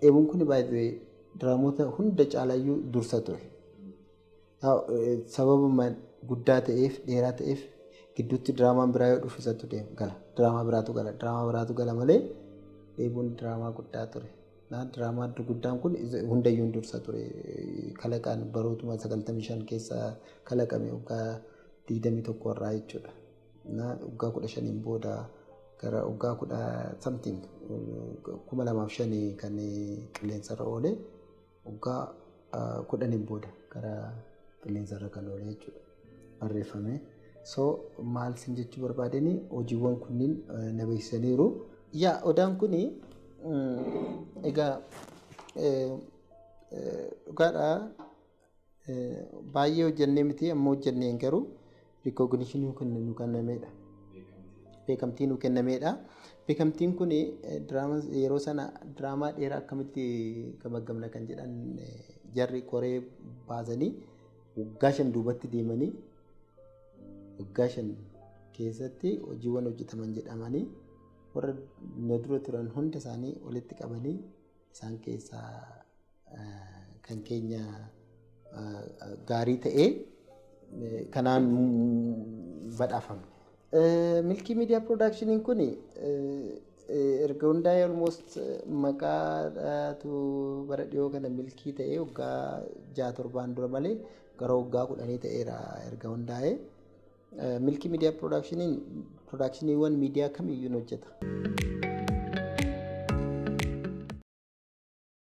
Eebuun kun by the way diraamoota hunda caalaayyuu dursa ture. Sababuma guddaa ta'eef dheeraa ta'eef gidduutti diraamaan biraa yoo dhufu isatu deema gala. Diraamaa biraatu gala. Diraamaa biraatu gala malee eebuun diraamaa guddaa ture. Diraamaa guddaan kun hundayyuun dursa ture. Kalaqaan barootuma 95 keessa kalaqame waggaa 21 irraa jechuudha. na waggaa kudha shaniin booda gara waggaa kudha something kuma lamaaf shani kan qilleensarra oole waggaa kudhaniin booda gara qilleensarra kan oole jechuudha barreeffame. So maal sin jechuu barbaadeni hojiiwwan kunniin na beeksisaniiru. Yaa odaan kun egaa dhugaadhaa Baay'ee hojjennee miti amma hojjenneen garuu rikooginishinii nu kennameedha. Beekamtii nu kennameedha. Beekamtiin kun yeroo sana diraamaa dheeraa akkamitti gamaggamna kan jedhan jarri koree baasanii waggaa shan duubatti deemanii waggaa shan keessatti hojiiwwan hojjetaman jedhamanii warra na dura turan hunda isaanii walitti qabanii isaan keessaa kan keenya gaarii ta'ee kanaan badhaafame. Milkii Miidiyaa Piroodaakshiniin kun erga hundaa'ee almost maqaatu bara dhiyoo kana milkii ta'ee waggaa ja'a torbaan dura malee gara waggaa kudhanii ta'eera erga hundaa'ee. Milkii Miidiyaa Piroodaakshiniin piroodaakshiniiwwan miidiyaa kamiyyuu hojjeta.